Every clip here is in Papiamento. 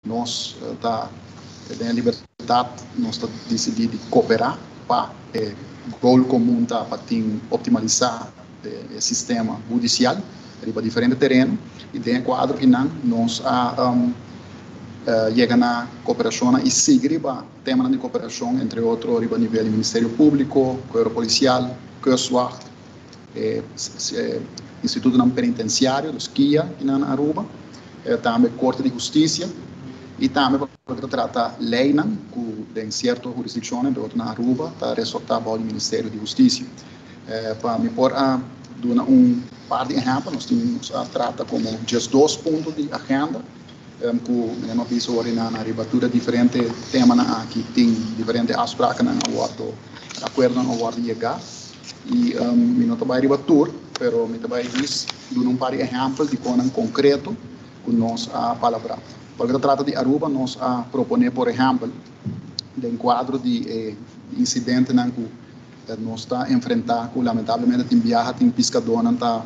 Nos ta den e libertat, nos ta disidí di kooperá pa e goal komun ta pa tin optimalisá e sistema hudisial riba diferente tereno i den e kuadro einan nos a yega na kooperashonnan i sigui riba temanan di kooperashon entre otro riba nivel di Ministerio Públiko, Kuero Polisial, Kustwacht. e institutonan penitenciario, los kia, kinan na Aruba, e tambe Corte di Husticia, y tambe pa loke ta trata leynan cu den cierto hurisdiccionnan, behotu na Aruba, ta resorta bao di Ministerio di Husticia. E pa mi por a duna un par di ehempel, nos tin, nos a trata como djesdos punto di agenda, Tem ku mi a no bisa ora i nan a riba tur e diferente temanan aki tin diferente afsprakenan a wòrdu e akuerdonan a wòrdu yegá i mi no ta bai riba tur pero mi ta bai jis duna un par di ehèmpel di konan konkreto ku nos a palabrá. Pa loke ta trata di Aruba nos a proponé por ehèmpel den kuadro di e insidentenan ku nos ta enfrentá ku lamentablemente tin biaha tin piskadónan ta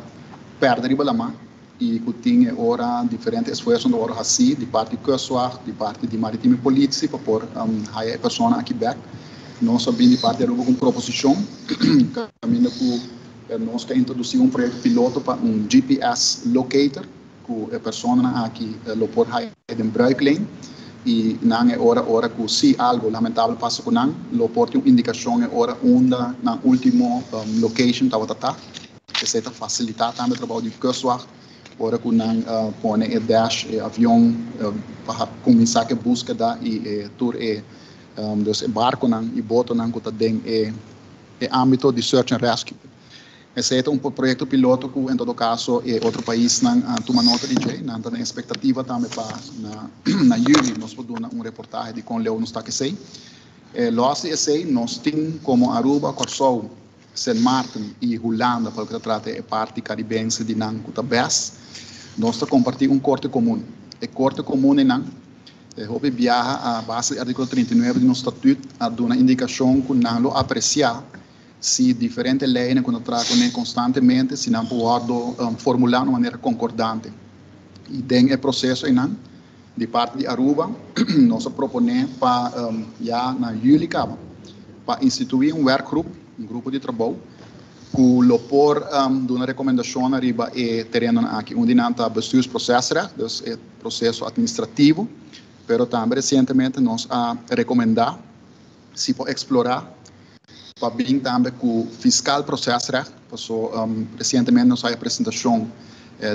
pèrdè riba lamar. i ku tin e ora diferente esfuersonan ta wòrdu hasí di parti di Kustwacht, di parti di Maritime Politie pa por haya e persona aki bèk. Nos a bini parti Aruba ku un proposishon kaminda ku nos ta introdusí un proyekto piloto pa un GPS locator ku e personanan aki lo por haya den bruikleen i nan e ora ora ku si algu lamentabel pasa ku nan lo por tin un indikashon e ora unda nan último location tabata ta. Esei ta fasilitá tambe trabou di kustwacht ora ku nan pone e dash, e avion, pa kuminsá ku e búskeda i tur e dus e barkonan i botonan ku ta den e ámbito di search and rescue. Esei ta un proyekto piloto ku en todo kaso e otro paisnan a tuma nota di dje. Nan ta den espektativa tambe pa na yüli nos por duna un reportahe di kon leu nos ta kesei. Lòs di esei nos tin komo Aruba, Kòrsou Sint Maarten i Hulanda pa loke ta trata e parti karibense di nan ku ta bes. Nos ta kompartí un korte komun. E korte komun einan, e hopi biaha a base di artíkulo trinta i nuebe di nos statüt a duna indikashon ku nan lo apresiá si diferente leinan ku nan ta traha kuné konstantemente si nan por wòrdu formulá na un manera konkordante. I den e proseso einan. Di parti di Aruba nos a proponé pa ya na yüli kaba pa instituí un wèrkgrup, un grupo di trabou, ku lo por duna rekomendashonnan riba e terennan aki. Un di nan ta bestuursprosesrecht, dus e proseso atministrativo, pero tambe resientemente nos a rekomendá, si por explora pa bin tambe cu fiscal procesrecht paso recientemente nos a haja presentacion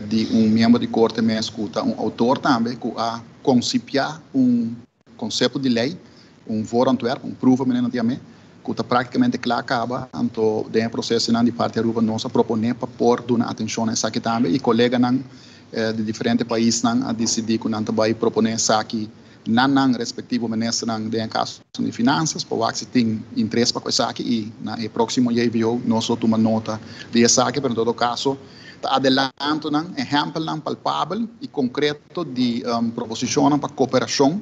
di un miembro di Corte mes cu ta un autor tambe cu a concipia un concepto di ley, un voorontwerp, un proeven menen nan tin amé, cu ta practicamente cla caba, anto den e procesonan di Parti Aruba nos a propone pa por duna atencion na esaki tambe y coleganan di diferente paisnan a dicidi cu nan ta bay propone esaki. na nan respectivo ministernan den e casonan di Finanzas pa wak si tin interes pa cu esaki y na e proximo JVO nos lo tuma nota di esaki pero en todo caso ta adelantonan, ehempelnan palpabel y concreto di proposicionnan pa cooperacion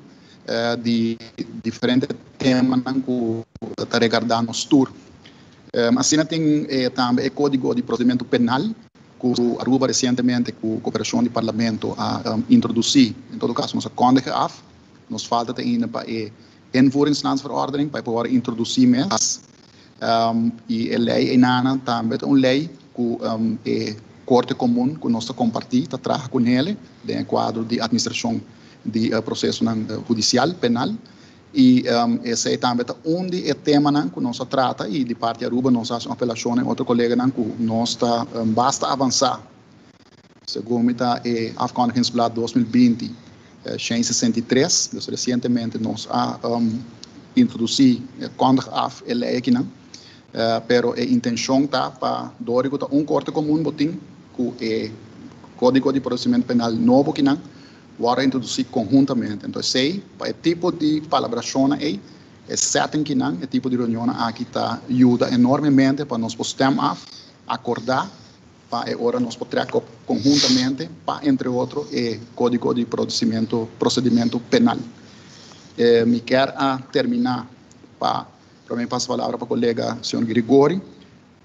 di diferente temanan cu ta regarda nos tur. Asina tin tambe e Kódigo di Prosedimentu Penal ku Aruba resientemente ku koperashon di Parlamento a introdusí. En todo kaso nos a kòndige af, nos falta ta ainda pa e Invoeringslandsverordening pa e por wòrdu introdusí mes. I e lei einana tambe ta un lei ku e Korte Komun ku nos ta kompartí ta traha ku nele den e kuadro di atministrashon di prosesonan hudisial, penal. I esei tambe ta un di e temanan ku nos a trata i di parti Aruba nos a hasi un apelashon den otro koleganan ku nos ta basta avansá segun mi ta e afkondigingsblad dos mil binti shen sesenta i tres. Pues resientemente nos a introdusí, kondig af, e lei akinan pero e intenshon ta pa dor di ku ta un korte komun bo tin ku e kódigo di prosesimento penal nobo kinan wòrdu introdusí konhuntamente. Anto esei, pa e tipo di palabrashonnan ei, e sèttingkinan, e tipo di reunionnan aki ta yuda enormemente pa nos por stèm af, akordá, pa e ora nos por trèk op konhuntamente pa entre otro e Kódigo di Prosimentu Prosedimentu Penal. Mi kèr a terminá pa promé pasa palabra pa kolega señor Gregori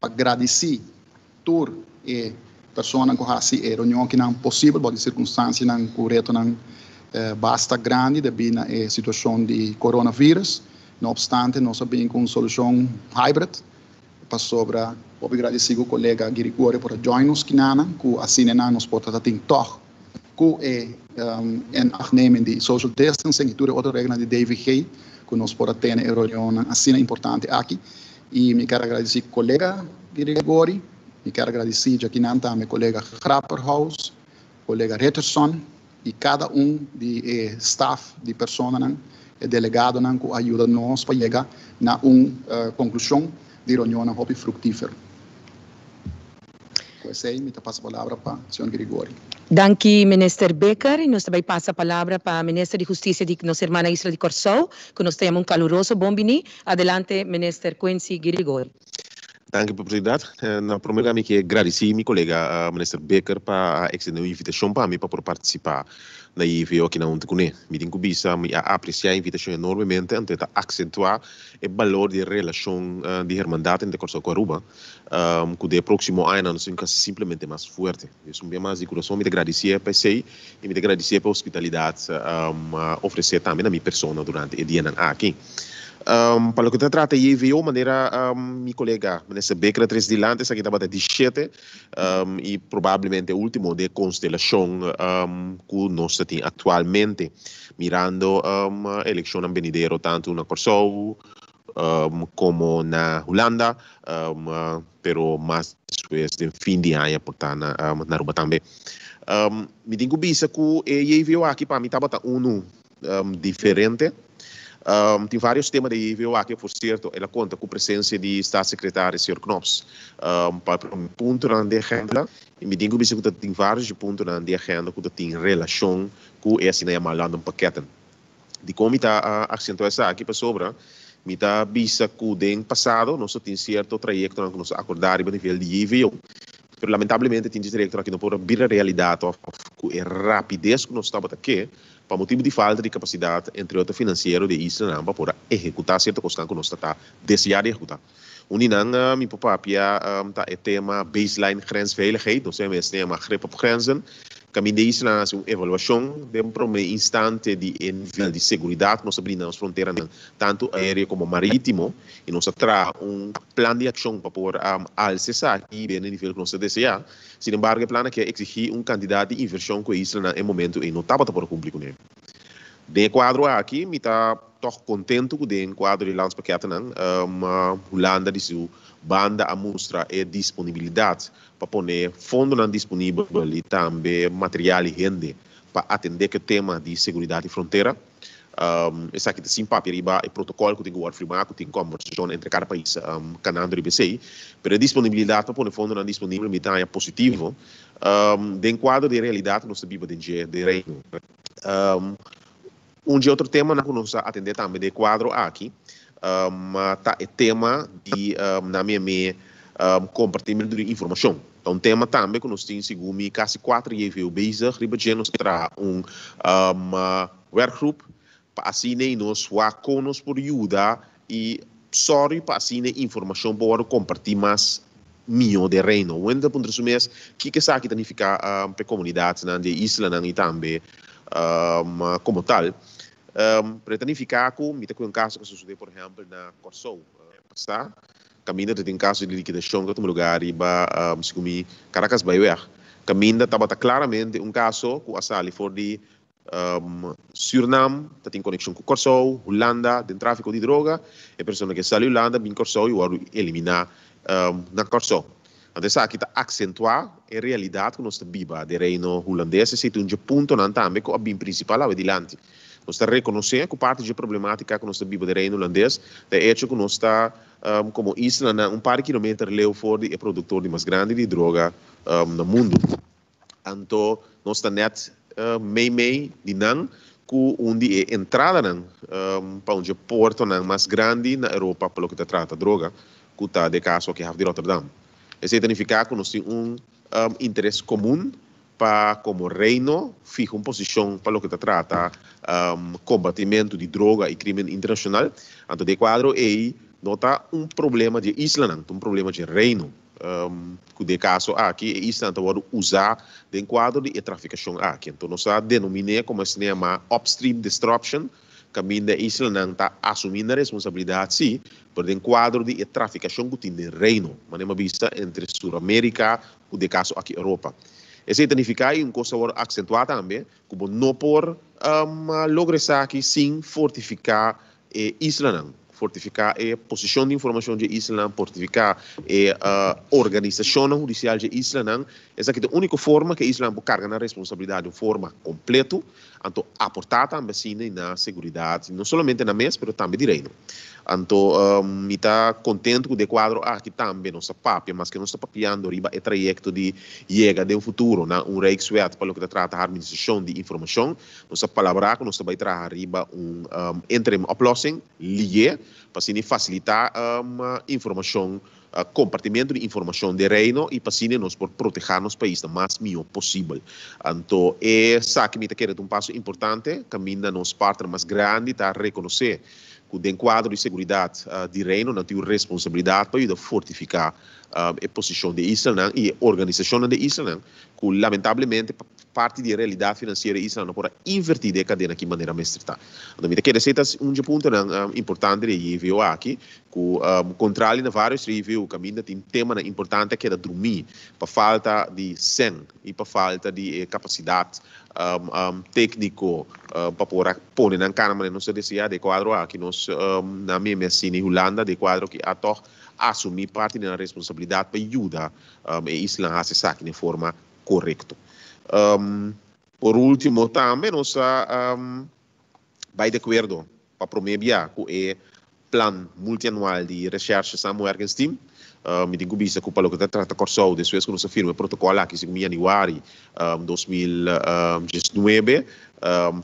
pa gradisí. Tur e personanan ku hasi e reunion kinan posibel bou di sirkunstansianan ku retonan basta grandi debí na e situashon di coronavirus. No opstante nos a bini ku un solushon hybrid pasobra. Hopi gradisí ku kolega Girigorio por a join nos kinanan ku asina nan nos por ta tatin tòg. cu e inachtneming di social distancing y tur e otro reglanan di DVG cu nos por a tene e reunionnan asina importante aki. Y mi ker agradeci colega di Rigori, mi ker agradeci djakinan tambe colega Grapperhaus, colega Richardson y cada un di e staf di personanan, e delegadonan cu a yuda nos pa yega na un conclusion di reunionnan hopi fructifer. Ku esei mi ta pasa palabra pa Señor Gregori. Danki Minister Bekker. Nos ta bai pasa palabra pa Minister di Hustisia di nos herman na isla di Kòrsou, ku nos ta yama un kaluroso bon bini. Adelante Minister Quincy Gregori. Danki Oportunidat. Na promé lugar mi ke gradisi mi kolega Minister Bekker pa a ekstendé un invitashon pa mi pa por partisipá na e EVO aki na huntu kuné. Mi tin ku bisa mi a apresiá e invitashon enormemente anto e ta aksentuá e balor di e relashon di hermandat entre Kòrsou ku Aruba. ku den e próksimo añanan nos tin ku hasi simplemente mas fuerte. Dios un bia mas di kurason mi ta gradisié pa esei i mi ta gradisié pa e hospitalidat ofresé tambe na mi persona durante e dianan aki. Pa loke ta trata JVO manera mi kolega Minister Bikker a tres dilanti esaki tabata di shete i probablemente e último di e konstelashon ku nos ta tin aktualmente mirando e elekshonnan benidero tantu na Kòrsou, komo na Hulanda, pero mas despues den fin di aña por ta na Aruba tambe. Mi tin ku bisa ku e JVO aki pa mi tabata unu diferente. Tin vários tema den e JVO aki, por sierto el a konta ku presensia di Statssekretaris señor Knops pa e promé puntonan den agenda. I mi tin ku bisa ku ta tin vários di puntonan den agenda ku ta tin relashon ku e asina yamá London Pakketten. Dikon mi ta a aksentuá esaki? Pasobra mi ta bisa ku den pasado nos a tin sierto trayektonan ku nos a akordá riba nivel di JVO, pero lamentablemente tin trayektonan ku no por a bira realidat òf ku e rapides ku nos tabata ke pa motibu di falta di kapasidat, entre otro finansiero, di e islanan pa por a ehekutá sierto kosnan ku nos ta deseá di ehekutá. Un di nan mi por papia ta e tema Baseline Grensveiligheid, nos tem esne yama Grip op Grenzen. Caminda ei esnan a haci un evaluacion den prome instante di e nivel di seguridad nos ta brinda nos fronteranan, tanto aereo como maritimo, y nos a traha un plan di accion pa por alza esaki binnen e nivel cu nos ta desea. Sin embargo e plannan aki a exigi un cantidad di inversion cu e islanan e momento ei no tabata por cumpli cun'e. Den e kuadro aki mi ta tòg kontentu ku den kuadro di Landspakketten Hulanda di su banda a mustra e disponibilidat pa pone fondonan disponibel i tambe material i hende pa atendé ku e tema di seguridat di frontera. Esaki ta sin papia riba e protokòl ku tin ku wòrdu firmá ku tin kòmbersashon entre kada pais kanando riba esei. Pero e disponibilidat pa pone fondonan disponibel mi ta haña positivo Den kuadro di e realidat ku nos ta biba den dje di Reino. Un di e otro temanan ku nos a atendé tambe den e kuadro aki ta e tema di nan miami kompartimentu di informashon. Ta un tema tambe ku nos tin segun mi kasi kuater JVO bezig riba dje. Nos a traha un wèrkgrup pa asina nos wak kon nos por yuda I sorry pa asina e informashon por wòrdu kompartí mas mihó d'e Reino. Wendy ta puntra su mes kiko esaki ta nifiká p'e komunidatnan di e islanan i tambe komo tal. Pero e ta nifiká ku mi ta kué un kaso ku a sosodé por ehèmpel na Kòrsou pasá kaminda ta tin un kaso di likidashon ku a tuma lugá riba segun mi Karakas Baiweg kaminda tabata klaramente un kaso ku a sali for di Surinam ta tin konekshon ku Kòrsou, Hulanda, den tráfiko di droga. E persona ku e sali Hulanda bin Kòrsou i wòrdu eliminá na Kòrsou. Anto esaki ta aksentuá e realidat ku nos ta biba den Reino Hulandes i aceitun dje puntonan tambe ku a bin prinsipal awe dilanti. Nos ta rekonosé ku parti dje problemátika ku nos ta biba den Reino Hulandes ta e echo ku nos ta komo islanan un par di kilometer leu for di e produktor di mas grandi di droga na mundu. Anto nos ta nèt mei mei di nan ku un di e entradanan pa un dje portonan mas grandi na Europa pa loke ta trata droga, ku ta de kaso aki haf di Rotterdam. Esei ta nifiká ku nos tin un interes komun pa komo Reino fiha un posishon pa loke ta trata kombatimentu di droga i krímen internashonal. Anto den e kuadro ei no ta un problema dje islanan, ta un problema dje Reino. Ku de kaso aki e isla nan ta wòrdu usá den kuadro di e trafikashon aki. Anto nos a denominé komo e CNMA Upstream Disruption, kaminda e isla nan ta asumí nan responsabilidat sí, pero den kuadro di e trafikashon ku tin den Reino, mané m'a bisa entre Suramérika ku de kaso aki Europa. Esei ta nifiká i un kos ta wòrdu aksentuá tambe, ku bo no por logra esaki sin fortifiká e islanan fortifiká, e posishon di informashon dje islanan portifiká, e organisashonnan hudisial dje islanan, esaki ta e úniko forma ku e islanan por karga nan responsabilidat di un forma kompletu, anto aportá tambe asinda na seguridat no solamente nan mes pero tambe di reino. Anto mi ta kontentu ku den e kuadro aki tambe nos ta papia, maske nos ta papiando riba e trayekto di yega den futuro na un Rijkswet pa loke ta trata harmonisashon di informashon, Nos a palabrá ku nos ta bai traha riba un interim oplòsing, liye, pa asina fasilitá informashon, kompartimentu di informashon di e Reino i pa asina nos por protehá nos paisnan mas mihó posibel. Anto esaki mi ta kere ta un paso importante kaminda nos partner mas grandi ta rekonosé ku den kuadro di seguridat di Reino nan tin un responsabilidat pa yuda fortifiká e posishon di e islanan i e organisashonnan di e islanan ku lamentablemente pa Parti di e realidat finansiero i esnan lo por a inverti den e kadena aki manera mester ta. Anto mi ta kere seta un dje puntonan importante di e JVO aki ku kontrali na varios otro JVO kaminda tin temanan importante a keda drumí pa falta di sèn i pa falta di e kapasidat tekniko pa por a pone nan kana manera nos ta deseá. De e kuadro aki nos nan mi e Messina i Hulanda de e kuadro aki a tòg asumí parti di nan responsabilidat pa yuda e islan hasi esaki den forma korekto. Por ultimo tambe nos ta bai di akuerdo pa promé bia ku e Plan Multianual di Reshershe Saam Werken Steam. Mi tin ku bista ku pa loke ta trata Kòrsou despues ku nos a firma e protokòl aki sigun yanüari dos mil diesnuebe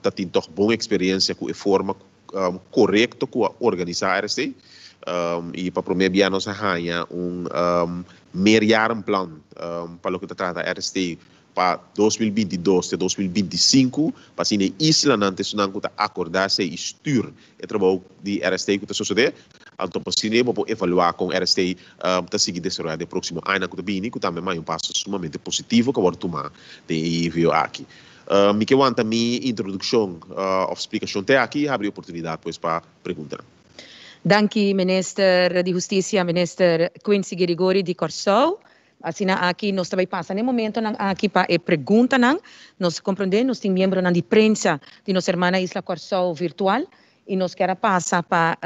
ta tin tòg bon eksperiensia ku e forma korekto ku a organisá RC i pa promé bia nos a haña un meerjarenplan pa loke ta trata RC pa dos mil binti dos te dos mil binti sinku pa asina e islanan ta esunnan ku ta akordá sey i stür e trabou di RC ku ta sosodé anto pa asina bo por evaluá kon RC ta sigui desaroyá den próksimo añanan ku ta bini ku tambe maña un paso sumamente positivo ku a wòrdu tumá den e EVO aki. Mi ke wanta mi introdukshon of splikashon te aki i habri oportunidat pues pa preguntanan. Danki Minister di Hustisia, Minister Quincy Gerigori di Kòrsou. Asina aki nos ta bai pasa na e momentonan aki pa e preguntanan. Nos komprondé nos tin miembronan di prensa di nos hermana isla Kòrsou virtual i nos kier a pasa pa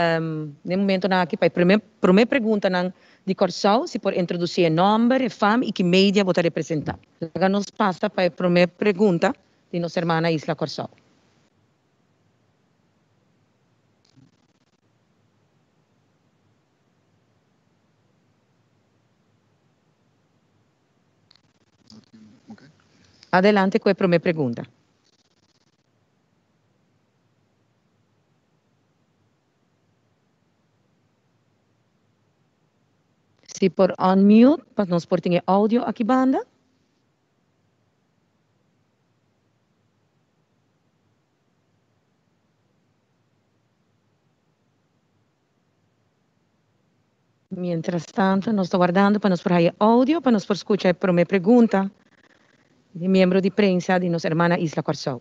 na e momentonan aki pa e promé promé preguntanan di Kòrsou, si por introdusi e nòmber, e fam i ki media bo ta representá. Laga nos pasa pa e promé pregunta di nos hermana Isla Kòrsou. Adelante ku e promé pregunta. Si por unmute pa nos por tin e audio aki banda. Mientras tanto nos ta wardando pa nos por haya e audio pa nos por scucha e prome pregunta di miembro di prensa di nos hermana Isla Curaçao.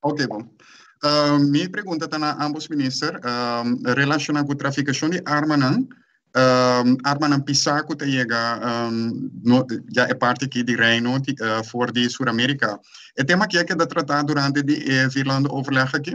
Ok bo. Mi pregunta ta na ambos minister relashona ku trafikashon di armanan, armanan pisá ku ta yega ya e parti aki di Reino for di Suramerika. E tema aki a keda tratá durante di e Vierlanderoverleg aki?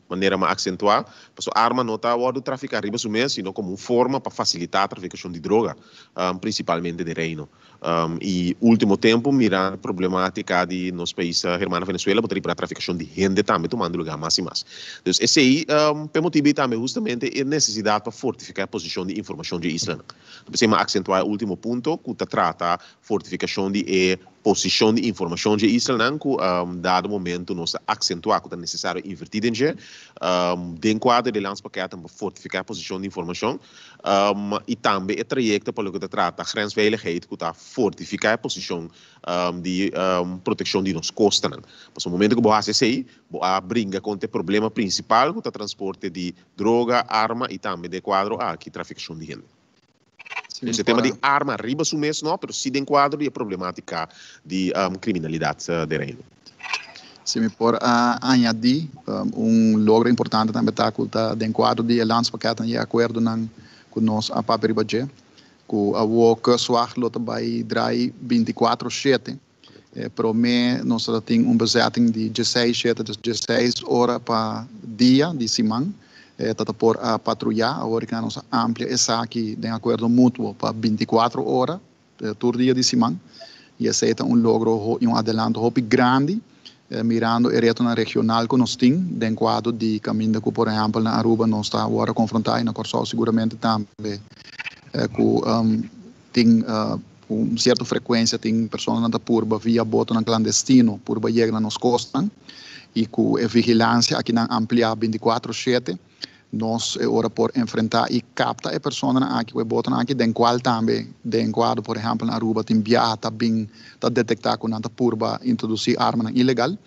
manera mas aksentuá, paso arma no ta wòrdu trafiká riba su mes, sino komo un forma pa fasilitá trafikashon di droga, prinsipalmente den Reino. I último tempu mirá problemátika di nos pais hermano Venezuela, bo ta ripará trafikashon di hende tambe tumando lugá mas i mas. Dus esei ta e motibu i tambe hustamente e nesesidat pa fortifiká e posishon di informashon dje islanan. Ta por esei mas aksentuá e último punto ku ta trata Fortifikashon di e posishon di informashon dje islanan ku dado momentu nos ta aksentuá ku ta nesesario invertí den dje. Den kuadro di e Landspakket tambe fortifiká e posishon di informashon i tambe e trayekto pa loke ta trata grensveiligheid ku ta fortifiká e posishon di protekshon di nos kostanan. Pasobra momentu ku bo hasi esei bo a bringa kontra e problema prinsipal ku ta transporte di droga, arma i tambe den e kuadro aki trafikashon di hende. Sin e tema di arma riba su mes no, pero si den kuadro di e problematika di kriminalidat den Reino. Si mi por añadí, un logro importante tambe ta ku ta den kuadro di e Landspakketten i e akuerdonan ku nos a papia riba dje, ku awor Kustwacht lo ta bai drai binti kuatro shete. E promé nos a tin un bezetting di dieseis shete dus dieseis ora pa dia di siman. E ta ta por a patruya. Aworika nos a amplia esaki den acuerdo mutuo pa binti cuatro ora tur dia di siman. Y esey ta un logro y un adelanto hopi grandi mirando e retonan regional cu nos tin den cuadro di caminda cu por ehempel na Aruba nos ta awor a confronta y na Corsou seguramente tambe cu Tin cu un cierto frecuencia tin personanan ta purba via botonan clandestino purba yega na nos costnan y cu e vigilancia aki nan amplia binti cuatro shete nos e ora por enfrenta y capta e personanan aki cu e botonan aki den cual tambe den cuado por ejemplo na Aruba tin biaha ta bin ta detecta cu nan ta purba introduci armanan ilegal.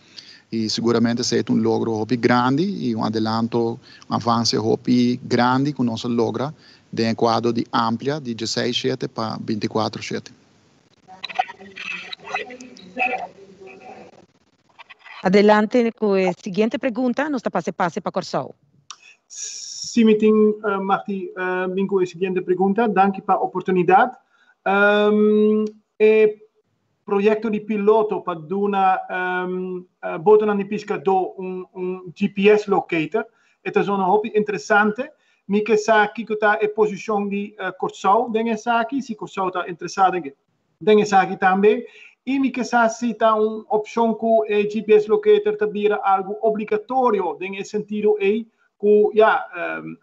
y seguramente esei ta un logro hopi grandi y un adelanto, un avance hopi grandi cu nos a logra den e cuadro di amplia di diesseis shete pa binticuatro shete. Adelante cu e siguiente pregunta, nos ta pase pase pa Corsou. Si mi tin machti bin cu e siguiente pregunta. Danki pa oportunidad. E proyekto di piloto pa duna botonan di piskadó un GPS locator. E ta zona hopi interesante. Mi ke sa kiko ta e posishon di Kòrsou den esaki, si Kòrsou ta interesá den esaki tambe. I mi ke sa si ta un opshon ku e GPS locator ta bira algu obligatorio den e sentido ei ku ya,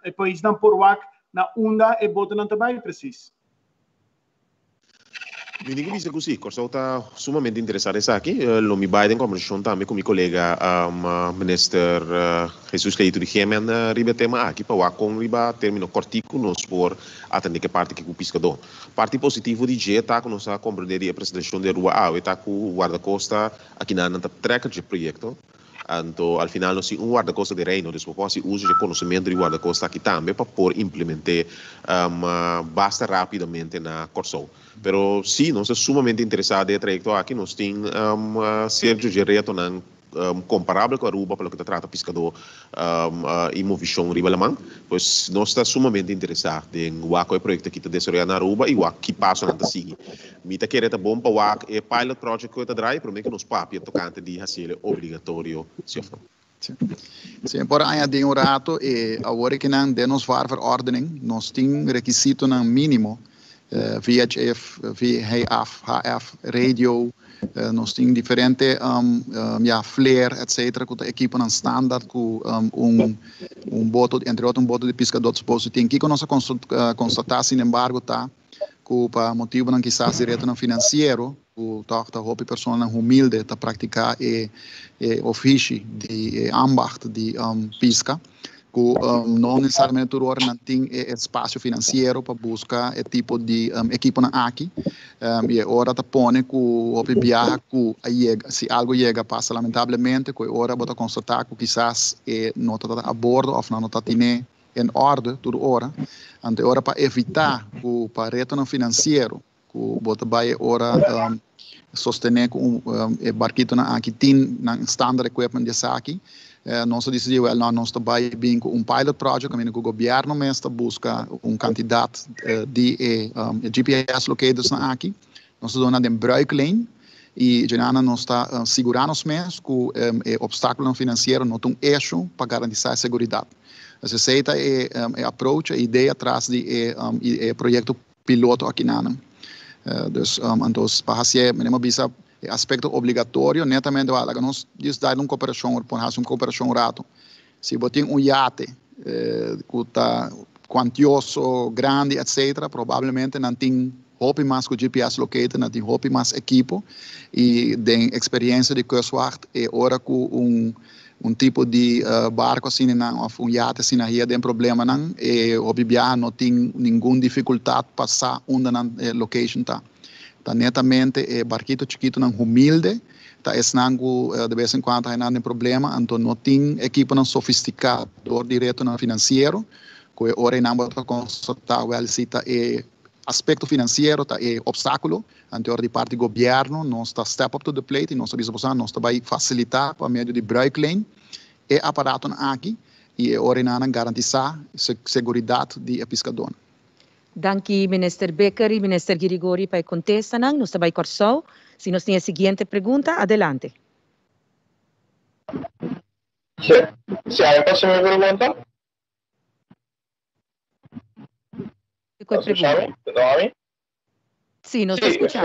e paisnan por wak na unda e botonan ta bai presis. Mi tin ke bisa ku si, Kòrsou ta sumamente interesá na esaki. Lo mi bai den kòmbersashon tambe ku mi kolega minister Hesus Leito di Gemmen riba e tema aki pa wak kon riba término kòrtiku nos por atendé ke parti ku piskadó. Parti positivo di dje ta ku nos a komprendé di e presentashon di e rua awe ta ku Wardakosta a kina nan ta trekker dje proyekto Anto, al final nos tin un Wardakos di Reino, dus bo por hasi uso dje konosementu di Wardakos taki tambe pa por implement'é basta rapidamente na Kòrsou. Pero sí, nos ta sumamente interesá den e trayekto aki, nos tin serju dje retonan komparabel ku Aruba pa loke ta trata piskadó i movishon riba laman. Pues nos ta sumamente interesá den wak ku e proyekto aki ta desaroyá na Aruba i wak ki pasonan ta sigui. Mi ta kere ta bon pa wak e pilot project cu e ta draai, pero mi ke nos papia tocante di haciele obligatorio, si of no. Si. Si mi por añadi un rato, e awor ke nan den nos VAR-verordening nos tin requisitonan minimo, VHF, VHF, HF, radio, nos tin diferente, ya, flare, et cetera, cu ta equiponan standaard cu un un boto, entre otro un boto di piscador ta suposo tin. Kico nos a constata, sin embargo, ta. ku pa motibunan kisas di retonan finansiero ku tòg ta hopi personanan humilde ta praktiká e ofishi di e ambacht di piska ku no nesesariamente tur ora nan tin e espasio finansiero pa buska e tipo di ekiponan aki i e ora ta pone ku hopi biaha ku a yega si algu yega a pasa lamentablemente ku e ora bo ta konstatá ku kisas e no ta a bordo òf nan no ta atin'é en orde tur ora ante ora pa evitá ku pa retonan finansiero ku bo ta bai e ora sostené ku e barkitonan aki tin nan standard equipment di esaki nos a disidí wèl nò nos ta bai bin ku un pilot project kaminda ku gobièrnu mes ta buska un kantidat di e GPS locatorsnan aki. Nos ta duna den bruik leen i djunannan nos ta sigurá nos mes ku e opstákulonan finansiero no ta un eshu pa garantisá e seguridat. Esei ta e approach, e idea tras di e proyekto piloto akinanan. Dus antos pa hasié mi bai bisa e aspekto obligatorio netamente laga nos disdai un koperashon, por hasi un koperashon un ratu. Si bo tin un yate ku ta kuantioso, grandi etcetera probablemente nan tin hopi mas ku GPS locator, nan tin hopi mas ekipo i den eksperiencia di Kustwacht e ora ku un tipo di barko asina of un yate asina hia den problemanan e hopi biaha no tin ningun difikultat pa sa unda nan location ta. Ta netamente e barkito chikitonan humilde, ta esnan ku de bes en kuanto hainan den problema, anto no tin ekiponan sofistika dor di retonan finansiero, ku e ora ei nan bo ta konstatá wèl si ta e aspekto finansiero ta e opstákulo, anto ora di parti gobièrnu nos ta step up to the plate i nos ta bisa boso nos ta bai fasilitá pa medio di bruikleen e aparatonan aki i e ora ei nan a garantisá se-seguridat di e piskadónan. Danki Minister Bikker y Minister Girigori pa e contesta nan. Nos ta bay Corsou. Si nos tin e siguiente pregunta, adelante. Si, si hay pa simi pregunta. Cu e pregunta? Si, nos ta escucha.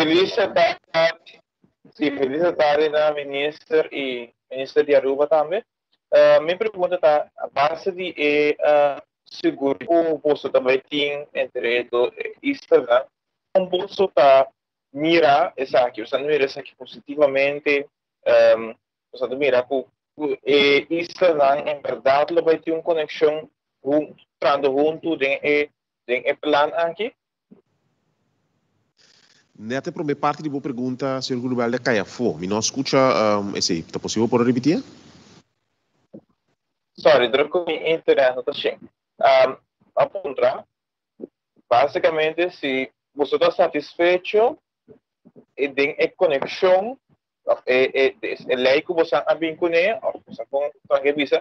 Si, feliz de tarde na Minister y Minister di Aruba tambe. Mi pregunta ta, a base di e seguridad cu boso ta bay tin entre e dos isla, con boso ta mira esaki? Boso a mira esaki positivamente? Boso ta mira cu e islanan en berdad lo bay tin un conexion hunto, trando hunto den e plan aki? Net e prome parti di bo pregunta señor Julio Belda cay afo. Mi no scucha esey. Ta posibel por a repiti e? Sorry, dor cu mi internet no ta shin. Pa puntra, basicamente si boso ta satisfecho e den e coneccion of e ley cu boso a bin cune of boso a con tranke bisa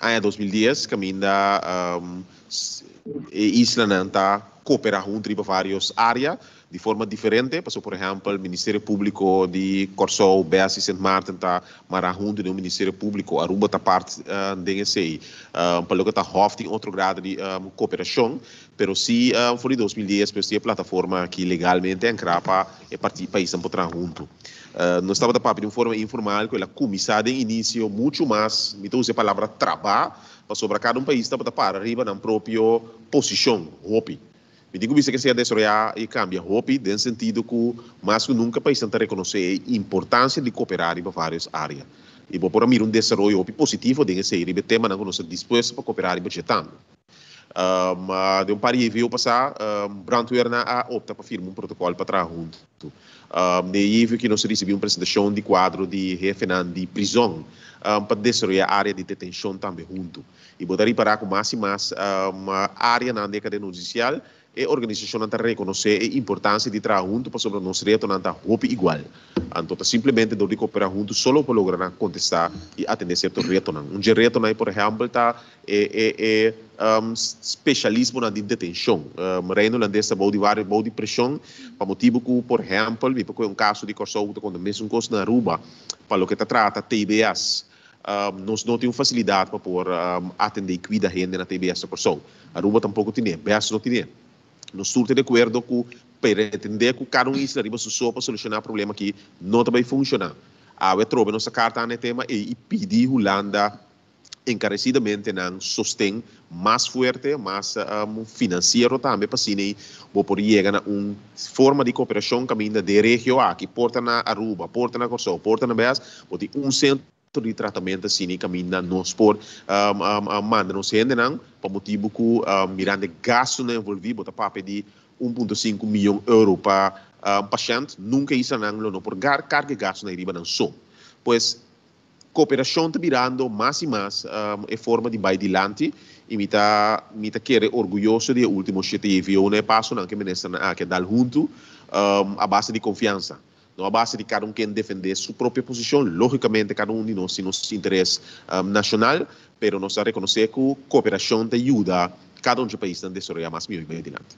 aña dos mil dies caminda e islanan ta coopera hunto riba varios area di forma diferente pasobra por ehempel Ministerio Publico di Corsou, Best y Sint Maarten ta mara hunto den un Ministerio Publico Aruba ta parti den esey pa loke ta hof tin otro grado di cooperacion Pero si for di dos mil dies pues tin e plataforma aki legalmente ankra pa e parti paisnan por traha huntu. Nos tabata papia di un forma informal ku el a kuminsá den inisio muchu mas, mi ta usa e palabra trabá, pasobra kada un pais tabata para riba nan propio posishon hopi. Mi tin ku bista ku esei a desaroyá i kambia hopi den sentido ku mas ku nunka paisnan ta rekonosé e importansia di koperá riba vários área. I bo por a mira un desaroyo hopi positivo den esei riba e temanan ku nos ta dispuesto pa koperá riba dje tambe. Den un par di JV pasá, brandweer nan a opta pa firma un protokòl pa traha huntu. Den JV ki nos a risibí un presentashon di kuadro di hefenan di prizòn pa desaroyá área di detenshon tambe huntu. I bo ta ripará ku mas i mas áreanan di e kadena hudisial E organisashonnan ta rekonosé e importansia di traha huntu pasobra nos retonan ta hopi igual. Anto ta simplemente dor di koperá huntu so lo por logra nan kontestá i atendé sierto retonan. Un dje retonan ei, por ehèmpel, ta e e e speshalismonan di detenshon. Rei Neerlandes ta bou di waris bou di preshon pa motibu ku, por ehèmpel, mi por kué un kaso di Kòrsou ku ta konta mesun kos na Aruba pa loke ta trata TBS. Nos no tin un fasilidat pa por atendé i kuida hende na TBS ta Kòrsou. Aruba tampoko tin'é. Bèst no tin'é. Nos tur ta di akuerdo ku peretendé ku kada un isla riba su so pa solushoná problema akí no ta bai funshoná. Awe atrobe nos a karta anda e tema ei i pidi Hulanda enkaresidamente nan sosten mas fuerte, mas finansiero tambe pa asina bo por yega na un forma di cooperashon kaminda den regio aki por ta na Aruba, por ta na Kòrsou, por ta na Bèls, bo tin un sentro di tratamento asina kaminda nos por manda nos hendenan pa motibu ku mirando e gastunan envolví bo ta papia di un punto sinku miyon euro pa pashènt. Nunka e islanan lo no por karga e gastunan riba nan so. Pues Cooperashon ta birando mas y mas e forma di bay dilanti y mi ta mi ta kere orguyoso di e ultimo shete JVO na e pasonan ke Ministernan aki a dal huntu a base di confiansa, no a base di cada un ken defende su propio posicion, logicamente cada un di nos tin nos interes nacional, pero nos ta reconoce cu cooperashon ta yuda cada un di e paisnan desaroya mas miyoy bay dilanti.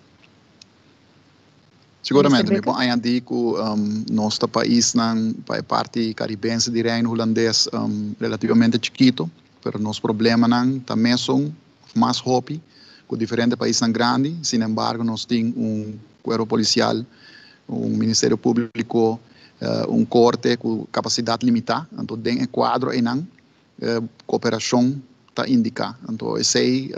Seguramente mi por añadi cu nos ta paisnan pa e parti caribense di Reino Hulandes relativamente chikito, pero nos problemanan ta mesun of mas hopi cu diferente paisnan grandi, sin embargo nos tin un cuerpo policial, un ministerio publico, un corte cu capacidad limita, anto den e cuadro einan E cooperacion ta indica. Anto esey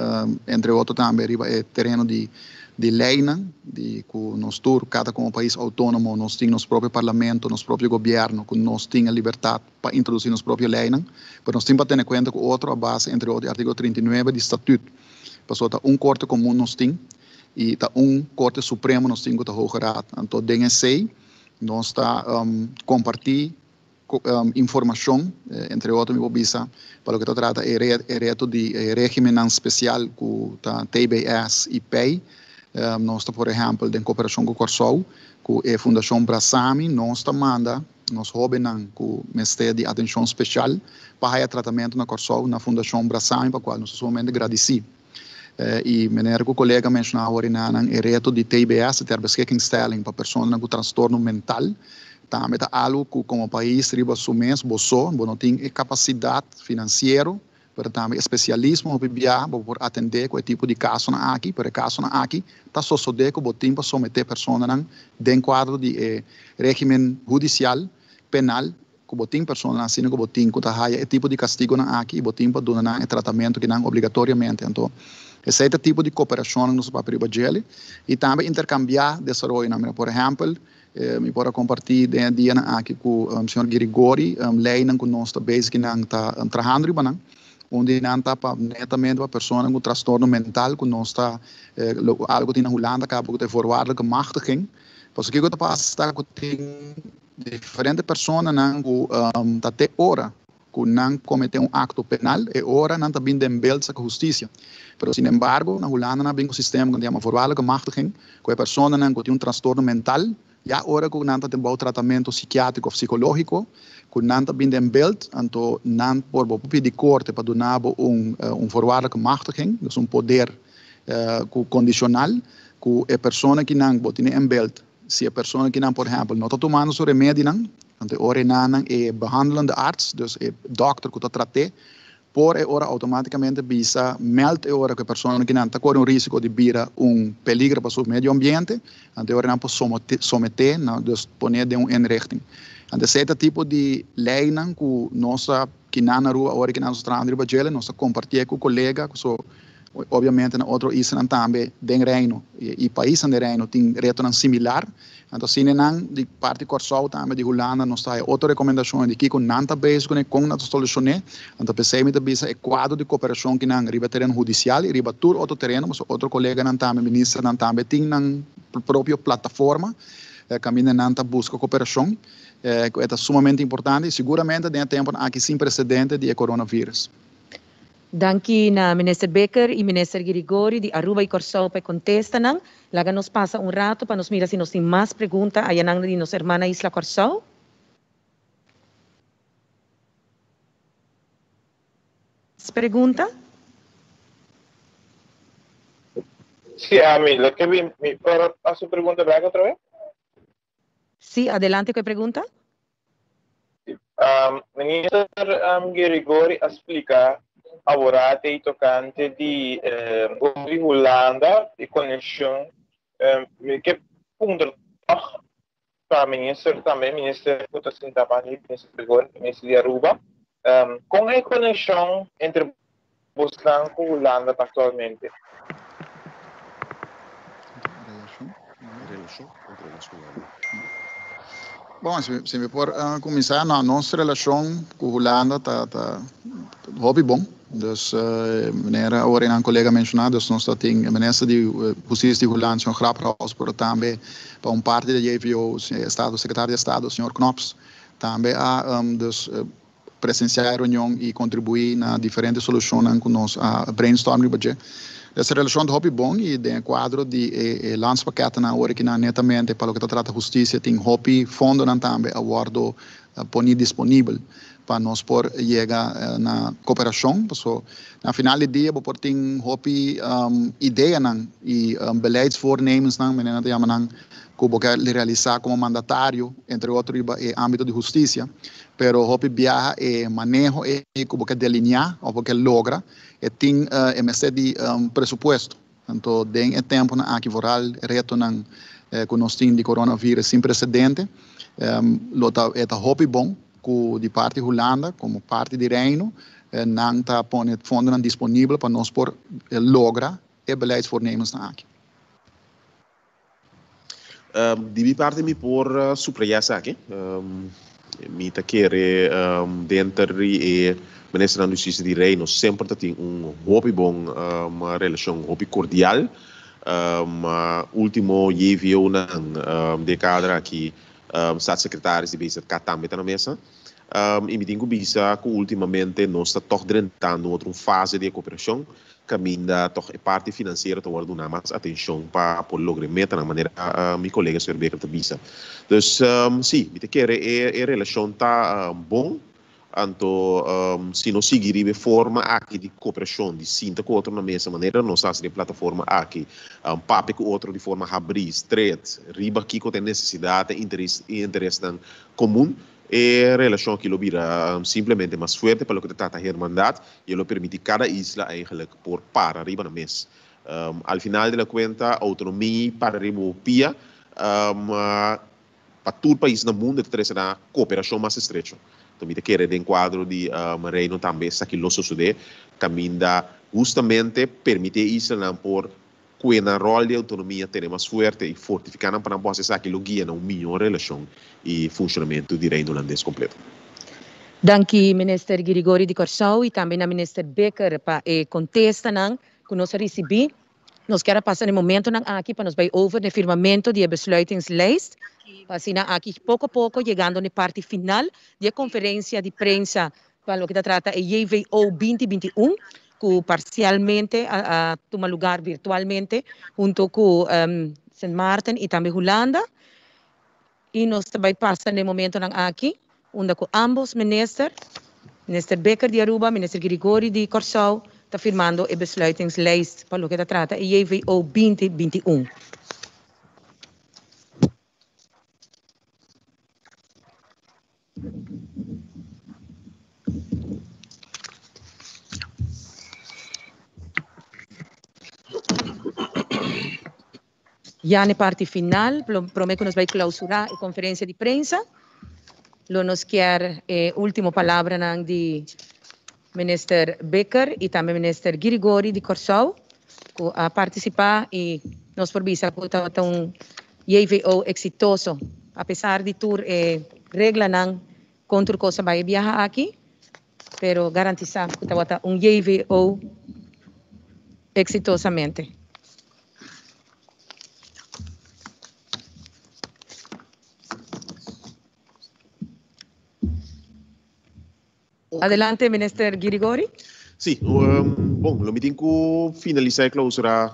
entre otro tambe riba e tereno di di leynan di cu nos tur cada como pais autonomo nos tin nos propio parlamento, nos propio gobierno cu nos tin e libertad pa introduci nos propio leynan pero nos tin pa tene cuenta cu otro a base entre otro di articulo trinta i nuebe di statut pasobra ta un corte comun nos tin y ta un corte supremo nos tin cu ta Hoge Raad. Anto den esey nos ta comparti. informacion, entre otro mi por bisa pa loke ta trata e reto di e regimennan special cu ta TBS y pei, nos ta por ehempel den cooperacion cu Corsou cu e Fundacion Brasami nos ta manda nos hobennan cu mester di atencion special pa haya tratamento na Corsou na Fundacion Brasami pa cual nos ta sumamente gradici. I manera ku kolega a menshoná aworinda nan, e reto di TBS, di ter beskikkingstelling pa personanan ku trastorno mental, tambe ta algu ku komo pais riba su mes bo so, bo no tin e kapasidat finansiero, pero tambe e spesialismo hopi bia pa bo por atendé ku e tipo di kasonan aki, pero e kasonan aki ta sosodé ku bo tin pa someté personanan den kuadro di e régimen hudisial, penal. ku bo tin personanan asina ku bo tin ku ta haya e tipo di kastigonan aki i bo tin pa duna nan e tratamentu ki nan obligatoriamente. Anto esei ta tipo di kooperashonnan ku nos a papia riba djeli i tambe interkambiá desaroyonan. Mira, por ehèmpel, mi por a kompartí den e dianan aki ku señor Girigori leinan ku nos ta bezig i nan ta trahando riba nan. Un di nan ta pa netamente pa personanan ku trastorno mental ku nos ta algu tin na Hulanda kaba ku ta e voorwaardelijke machtiging. Pasobra kiko ta pasa ta ku tin Diferente personanan ku ta te ora ku nan kometé un akto penal, e ora nan ta bin den belt saka hustisia. Pero sin embargo, na Hulanda nan bin ku sistema ku ta yama voorwaardelijke machtiging, ku e personanan ku tin un trastorno mental, ya ora ku nan ta den bou tratamentu sikiátriko òf sikológiko, ku nan ta bin den belt, anto nan por bo pidi korte pa duna bo un voorwaardelijke machtiging, dus un poder kondishonal, ku e persona kinan bo tene en belt, Si e persona ki nan por ehempel no ta tumando su remedinan, anto e ora enan nan e behandelende arts, dus e dòkter ku ta trat'é, por e ora outomátikamente bisa mèld e ora ku e persona ki nan ta kore un rísiko di bira un peligro pa su medio ambiente, anto e ora nan por somet'é, nan dus pon'é den un inrichting. Anto esei ta tipo di leinan ku nos a. Ki nan Aruba ora ki nan so traha riba djela nos ta kompartié ku kolega ku so obiamente na otro islanan tambe den Reino i paisnan den Reino tin retonan similar. Anto asina nan di parti Kòrsou tambe di Hulanda nos ta haña otro rekomendashonnan di kiko nan ta bes kuné, kon nan ta solushoné. Anto p'esei mi ta bisa e kuadro di koperashon ki nan riba e tereno hudisial i riba tur otro tereno pasobra otro koleganan tambe ministernan tambe tin nan propio plataforma kaminda nan ta buska koperashon. ku e ta sumamente importante i seguramente den e tempunan aki sin presedente di e coronavirus. Danki na Minister Bikker i Minister Girigori di Aruba i Kòrsou pa e kontestanan. Laga nos pasa un ratu pa nos mira si nos tin mas pregunta ayanan di nos herman na isla Kòrsou. Mas pregunta? Si, ami lo ke bin mi por hasi pregunta bek otra vez? Sí, adelante cu e pregunta. Minister Gerigori a splica aworatei tocante di Gobi di Hulanda y coneccion. Mi ke puntra tog pa minister tambe, minister cu ta sinta abajo di minister Gregori, minister di Aruba, con e coneccion entre. Bosnan ku Hulanda ta aktualmente. Bon, si mi por kuminsá, nos relashon ku Hulanda ta hopi bon. Dus, manera awor e nan kolega a menshoná, dus nos ta tin e minister di hustisia di Hulanda, señor Grapperhaus, pero tambe pa un parti di JVO, e estado sekretario di estado, señor Knops, tambe a. presensiá e reunion i kontribuí na diferente solushonnan ku nos a brainstorm riba dje. Desa relashon ta hopi bon i den e kuadro di e landspakètnan awor e kinan netamente pa loke ta trata hustisia tin hopi fondonan tambe a wòrdu poní disponibel pa nos por yega na koperashon paso na final di dia bo por tin hopi ideanan i beleidsvoornemensnan menen nan ta yama nan ku bo ke realisá komo mandatario entre otro riba e ámbito di hustisia Pero hopi biaha e maneho ei ku bo ke delineá òf bo ke logra e tin e mester di un presupuesto. Anto den e tempunan aki vooral e retonan ku nos tin di coronavirus sin presedente lo ta e ta hopi bon ku di parti Hulanda komo parti di Reino nan ta pone fondonan disponibel pa nos por logra e beleidsvoornemensnan aki. Di mi parti mi por subraya esaki, mi ta kere denter di e Ministernan di Hustisia di Reino semper ta tin un hopi bon relashon, hopi kordial. Ultimo JVOnan di e kader aki Statssekretaris di BZK tambe ta na mesa. I mi tin ku bisa ku ultimamente nos ta tòg drenta un otro fase di e koperashon. Caminda tog e parti financiero ta worde duna mas atencion pa por logra e metanan manera mi colega señor Baker ta bisa. Dus si, mi ta kere e relacion ta bon, anto si nos sigui riba e forma aki di cooperacion, di sinta cu otro na mesa manera nos haci den e plataforma aki, papia cu otro di forma habri, stret, riba kico ta e necesidadnan y interesnan comun, E relashon aki lo bira simplemente mas fuerte pa loke ta trata hermandad i e lo permiti kada isla eigenlik por para riba nan mes. Al final di la kuenta, outonomia i para riba bo pia ma pa tur pais na mundu e ta trese na kooperashon mas estrecho. Enton mi ta kere den kuadro di Reino tambe esaki lo sosodé kaminda hustamente permiti e islanan por Cu e nan rol di autonomia tene mas fuerte y fortifica nan pa nan por haci esaki lo guia na un mijo relacion y funcionamento di Reino Hulandes completo. Danki Minister Girigory di Corsou y tambe na Minister Bikker pa e contestanan cu nos a ricibi. Nos kier a pasa na e momentonan aki pa nos bay over na e firmamento di e besluitingslijst pa asina aki poco a poco yegando na e parti final di e conferencia di prensa pa loke ta trata e JVO binti binti i un ku parsialmente a tuma lugar virtualmente hunto ku Sint Maarten i tambe Hulanda i nos ta bai pasa n'e momentonan aki unda ku ambos minister, Minister Bikker di Aruba, Minister Girigory di Kòrsou, ta firmando e besluitingslijst pa loke ta trata e JVO binti binti i un. Ya na e parti final, prome ku nos bai klausurá e konferensia di prensa, lo nos kier e último palabranan di. Minister Bikker y tambe Minister Girigori di Corsou cu a participa y nos por bisa cu tabata un JVO exitoso apesar di tur e reglanan con tur cosa bay e biaha aki pero garantisa cu tabata un JVO exitosamente. Adelante Minister Girigori. Sí, bon, lo mi tin cu finalisa e clausura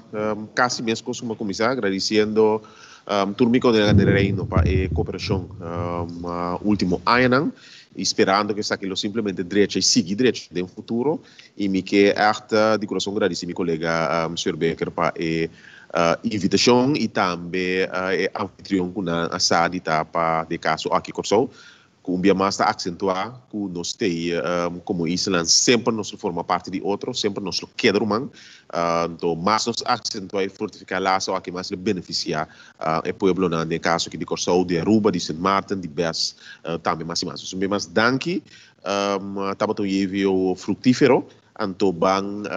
casi mescos como a cuminsa, agradiciendo tur mi colega den Reino pa e cooperacion ultimo añanan y sperando cu esaki lo simplemente drecha y sigui drecha den futuro y mi kier echt di corazon gradici mi colega Señor Baker pa e invitacion y tambe e anfitrion cu nan a sa di ta pa di e caso aki Corsou. Ku un bia mas ta aksentuá ku nos t'ei komo islanan semper nos lo forma parti di otro, semper nos lo keda ruman. Anto mas nos aksentuá i fortifiká laso aki mas lo benefisiá e pueblonan den e kaso aki di Kòrsou, di Aruba, di Sint Maarten, di Bes tambe mas i mas. Pues un bia mas danki tabata un JVO fruktífero anto ban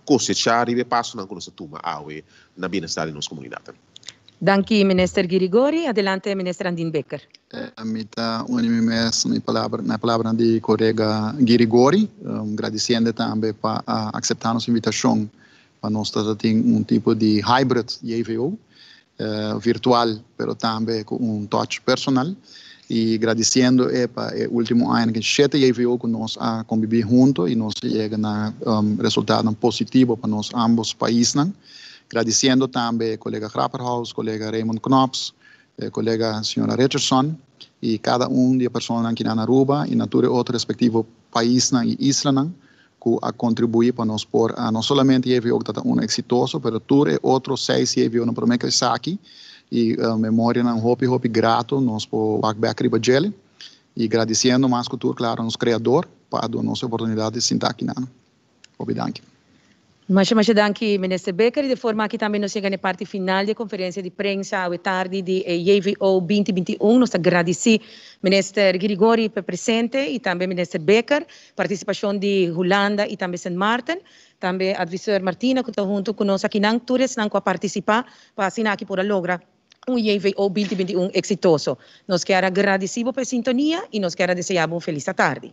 kosechá riba e pasonan ku nos a tuma awe na bienestar di nos komunidatnan. Danki Minister Girigori. Adelante Minister Andin Bekker. Mi ta uni mi mes na e palabranan di Colega Girigori, gradiciende tambe pa a acepta nos invitacion pa nos ta ta tin un tipo di hybrid JVO, virtual pero tambe cu un touch personal, y gradiciendo e pa e ultimo aña ken shete JVO cu nos a combibi hunto y nos a yega na resultadonan positivo pa nos ambos paisnan. Gradiciendo tambe e colega Grapperhaus, colega Raymond Knops, e colega señora Richardson y cada un di e personanan ki na na Aruba y na tur e otro respectivo paisnan y islanan cu a contribui pa nos por a no solamente JVO cu ta ta uno exitoso pero tur e otro seis JVOnan prome cu esaki y memorianan hopi hopi grato nos por wak bek riba djele y gradiciendo mas cu tur claro nos creador pa a duna nos e oportunidad di sinta aki nan. Hopi danki. Masha masha danki Minister Bekker i de forma aki tambe nos yega na e parti final di e konferensia di prensa awe tardi di e JVO binti binti un. Nos ta gradisí Minister Girigorie pa e presente i tambe Minister Bekker, partisipashon di Hulanda i tambe Sint Maarten, tambe Advisor Martina ku ta huntu ku nos akinan, tur esnan ku a partisipá pa asina aki por a logra un JVO binti binti un eksitoso. Nos kier a gradisí bo pa e sintonia i nos kier a deseá bo un felis atardi.